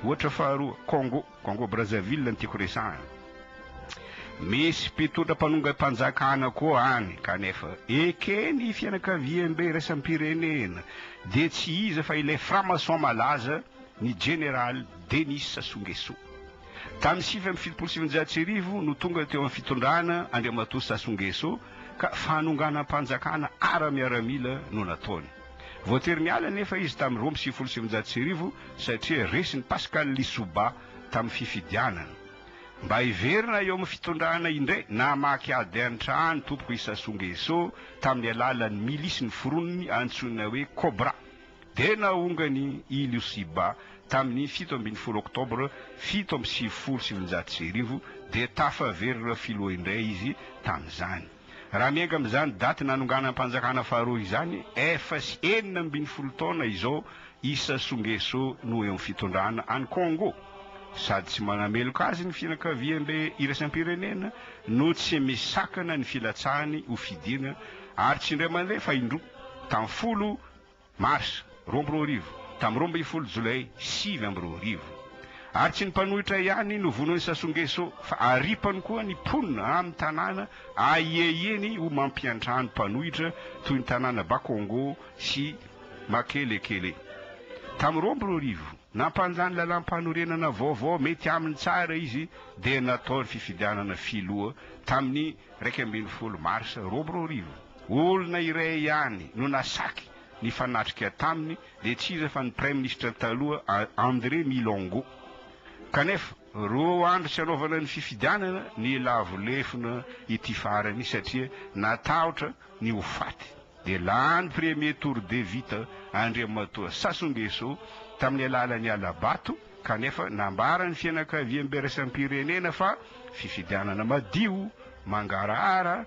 Ohatra faharoa, Congo, Congo Brazzaville no tiako resahina. Misy mpitondra mpanongam-panjakana koa any, kanefa eken'ny fianakaviambe iraisam-pirenena, dia tsy iza fa ilay franc-maçon malaza, ny Jeneraly Denis Sassou Nguesso. Tamin'ny sivy amby fitopolo sy sivinjato sy arivo no tonga teo amin'ny fitondrana Andriamatoa Sassou Nguesso, ka fanonganam-panjakana ara-miaramila no nataony. Voatery niala anefa izy tamin'ny roa amby sivifolo sy sivinjato sy arivo satria resin'i Pascal Lissouba tamin'ny fifidianana. Mba hiverina eo amin'ny fitondrana indray, namaky ady an-trano ny tompoko i Sassou Nguesso tamin'ny alalan'ny milisy noforoniny antsoina hoe Cobra, dia nahongany i Lissouba tamin'ny fito ambin'ny folo Oktobra fito amby sivifolo sy sivinjato sy arivo, dia tafaverina filoha indray izy tamin'izany. Raha miainga amin'izany daty nanonganam-panjakana faharoa izany, efa sy enina ambin'ny folo taona izao i Sassou Nguesso no eo amin'ny fitondrana any Kongo. Sady tsy manameloka azy ny fianakaviambe iraisam-pirenena no tsy misakana ny filatsahany ho fidiana ary tsy indray mandeha fa indroa, tamin'ny folo Mars, roa amby roa arivo, tamin'ny roa ambin'ny folo Jolay, sivy amby roa arivo. Ary tsy ny mpanohitra ihany no vonoin'i Sassou Nguesso fa aripany koa ny mponina amin'ny tanàna ahiahiany ho mampiantrano mpanohitra toy ny tanàna Bakongo sy Makelekele. Tamin'ny roa amby roa arivo, nampanja ny lalàmpanorenana vaovao mety aminy tsara izy dia natao ny fifidianana filoha tamin'ny iraika ambin'ny folo Mars, roa amby roa arivo. Olona iray ihany no nasaky nifanatrika taminy dia tsy iza fa ny praiminisitra taloha André Milongo. Kanefa roa andro tsy hanaovana ny fifidianana ny lavo lefona ity farany satria natahotra ny ho faty dia lany premier tour de vita Andriamatoa Sassou Nguesso tamin'ny alalan'ny hala-bato kanefa nambaran'ny fianakaviamby iraisam-pirenena fa fifidianana madio, mangarahara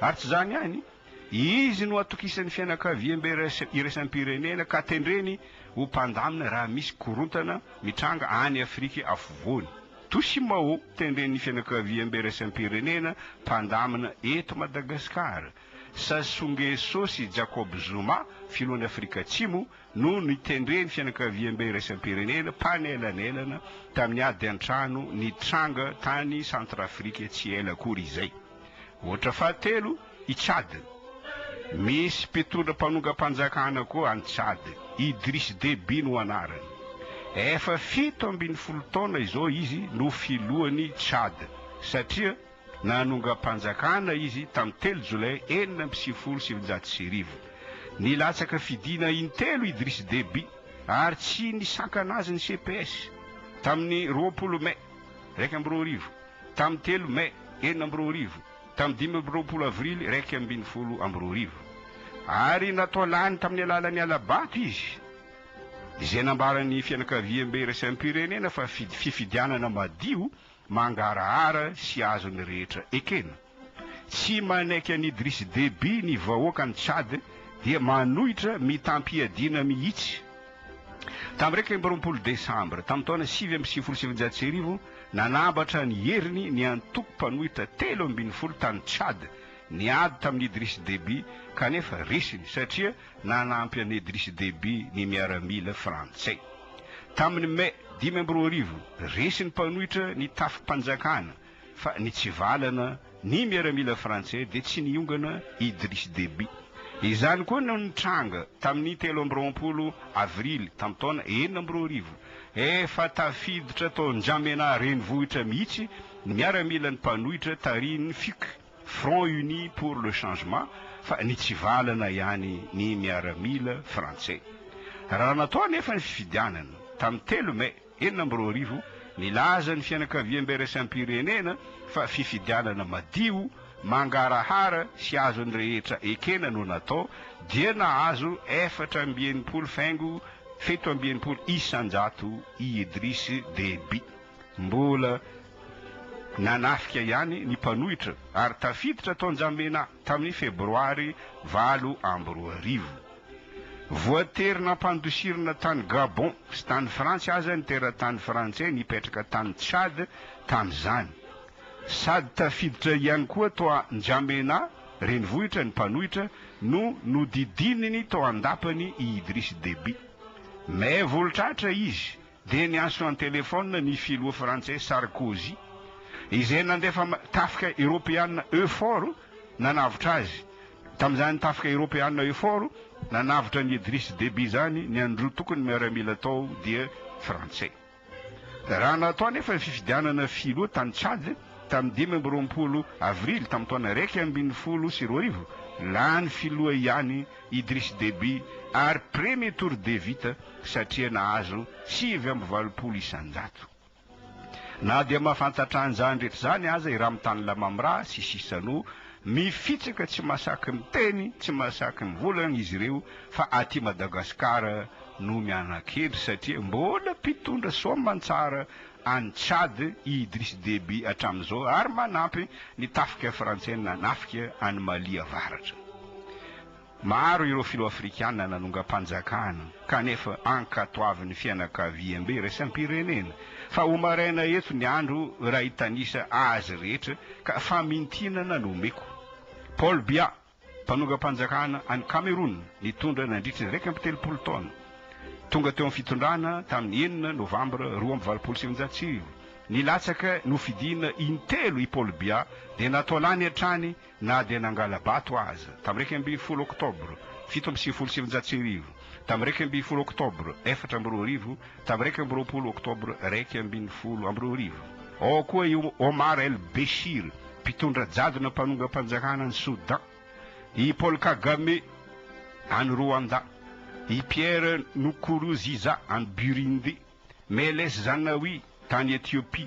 Ary tsy izany ihany, izy no atokisan'ny fianakaviambe iraisam-pirenena ka tendreny ho mpandamina raha misy korontana mitranga any Afrika Afovoany. Toshimao, tendren'ny fianakaviambe iraisam-pirenena mpandamina eto Madagasikara, Sassou Nguesso sy Jacob Zuma, filohan'i Afrika Atsimo, no nitendren'ny fianakaviambe iraisam-pirenena mpanelanelana tamin'ny ady an-trano nitranga tany Centrafrique tsy ela akory izay. Ohatra fahatelo, i Tchad. Misy mpitondra mpanongam-panjakana koa any Tchad, Idriss Déby no anarany. Efa fito ambin'ny folo taona izao izy no filohan'i Tchad, satria nanongam-panjakana izy tamin'ny telo Jolay enina amby sivifolo sy sivinjato sy arivo. Nilatsaka fidiana intelo Idriss Déby ary tsy nisakana azy ny CPS, tamin'ny roapolo May iraika amby roa arivo. tamin'ny telo Mai enina amby roa arivo, tamin'ny dimy amby roapolo Avrily iraika ambin'ny folo amby roa arivo, ary natao lany tamin'ny alalan'ny hala-bato izy, izay nambaran'ny fianakaviambe iraisam-pirenena fa fifidianana madio, mangarahara sy azon'ny rehetra ekena. Tsy manaiky an'i Idriss Déby ny vahoakan'i Tchad dia manohitra mitam-piadiana mihitsy. Tamin'ny iraika amby roapolo Desambra, tamin'ny taona sivy amby sivifolo sy sivinjato sy arivo, nanambatra ny heriny ny antoko mpanohitra telo ambin'ny folo tany Tchad niady tamin'i Idriss Déby kanefa resiny satria nanampy an'i Idriss Déby ny miaramila frantsay. Tamin'ny Mey dimy amby roa arivo, resy ny mpanohitra ny tafi-panjakana, fa nitsivalana ny miaramila frantsay dia tsy niongana Idriss Deby. Izany koa no nitranga tamin'ny telo amby roapolo avrily tamin'ny taona enina amby roa arivo. Efa tafiditra tao N'Djamena renivohitra mihitsy ny miaramilan'ny mpanohitra tarihin'ny FUC, Front Uni pour le Changement, fa nitsivalana ihany ny miaramila frantsay. Raha natao anefa ny fifidianana tamin'ny telo mey, enina amby roa arivo, nilaza ny fianakaviam-biraisam-pirenena fa fifidianana madio, mangarahara sy azon'ny rehetra ekena no natao, dia nahazo efatra amby enimpolo faingo fito amby enimpolo isan-jato i Idriss Déby. Mbola nanafika ihany ny mpanohitra ary tafiditra tao an-jambena tamin'ny Febroary valo amby roa arivo. Voatery nampandosirina tany Gabon sy tany Frantsa aza ny teratany frantsay nipetraka tany Tchad tamin'izany. Sady tafiditra ihany koa tao N'Djamena renivohitra ny mpanohitra no nodidininy tao an-dapany i Idriss Déby. May volotr'Atra izy. dia niantso an-telefaonina ny filoha frantsay Sarkozy, izay nandefa tafika eoropeana Eufor nanavotra azy. Tamin'izany tafika eoropeana Eufor nanavotra an'i Idriss Deby izany, ny an'ny roa tokony miaramila tao dia frantsay. Raha natao anefa ny fifidianana filoha tany Tchad tamin'ny dimy amby roapolo avrily tamin'ny taona iraika ambin'ny folo sy roa arivo, lany filoha ihany Idriss Déby ary premier tour de vita satria nahazo sivy amby valopolo isan-jato. Na dia mahafantatra an'izany rehetra izany aza i Ramtane Lamamra sy Chissano, mifitsaka tsy mahasaky miteny, tsy mahasaky mivolagna izy ireo fa aty Madagasikara no miana-kendry satria mbola mpitondra soamantsara any Tchad i Idriss Déby hatramin'izao ary manampy ny tafika frantsay nanafika an'i Mali avaratra. Maro ireo filoha afrikana nanongam-panjakana kanefa ankatoavin'ny fianakaviambe iraisam-pirenena fa ho maraina eto ny andro raha hitanisa azy rehetra ka famintinana no omeko. Paul Biya. Mpanongam-panjakana any Kamerona nitondra nandritra ny iraika amby telopolo taona. Tonga teo amin'ny fitondrana tamin'ny enina Novambra roa amby valopolo sy sivinjato sy arivo. Nilatsaka nofidina intelo i Paul Biya dia natao lany hatrany na dia nangala-bato aza. Tamin'ny iraika ambin'ny folo Oktobra fito amby sivifolo sy sivinjato sy arivo, tamin'ny iraika ambin'ny folo Oktobra efatra amby roa arivo, Tamin'ny iraika amby roapolo Oktobra iraika ambin'ny folo amby roa arivo, ao koa i Omar El Béchir, mpitondra jadona mpanongam-panjakana any Soudan, i Paul Kagame any Rwanda, i Pierre Nkurunziza any Burundi, Meles Zanawi tany Ethiopia,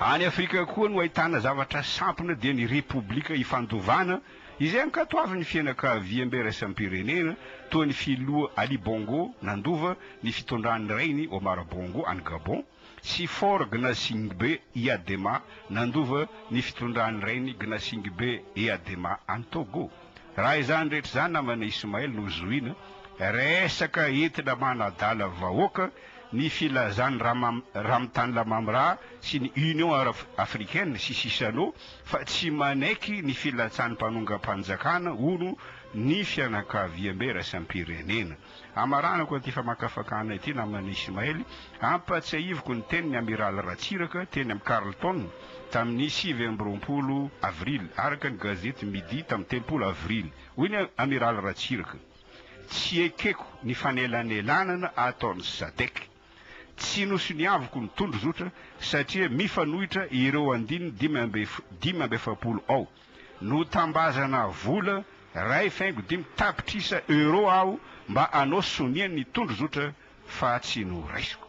Any Afrika koa no ahitana zavatra sampona dia ny Repoblika Ifandovana izay ankatoavin'ny fianakaviambe iraisam-pirenena toa ny Filoha Ali Bongo nandova ny fitondran'ny rainy Omar Bongo any Gabon sy Faure Gnassingbé Eyadema nandova ny fitondran'ny rainy Gnassingbé Eyadema any Togo. Raha izany rehetra izany namana Ismail no zohina, resaka entina manadala vahoaka ny filazan'i Ramtane Lamamra sy ny Union Africaine sy Chissano fa tsy manaiky ny filatsan'ny mpanongam-panjakana hono ny fianakaviambe iraisam-pirenena. Amaranako an'ity famakafakana ity naman'i Ismaël, ampatsiahiviko ny tenin'ny Amiraly Ratsiraka teny amin'ny Carlton tamin'ny sivy amby roapolo avrily, araka ny gazety Midi tamin'ny telopolo avrily. Hoy ny Amiraly Ratsiraka, Tsy ekeko ny fanelanelanana ataon'ny Sadec. Tsy nosoniaviko ny tondrozotra satria mifanohitra ireo andininy dimy amby dimy amby efapolo ao. Notambazana vola iray faingo dimy tapitrisa euros aho mba hanao sonia ny tondrozotra fa tsy noraisiko.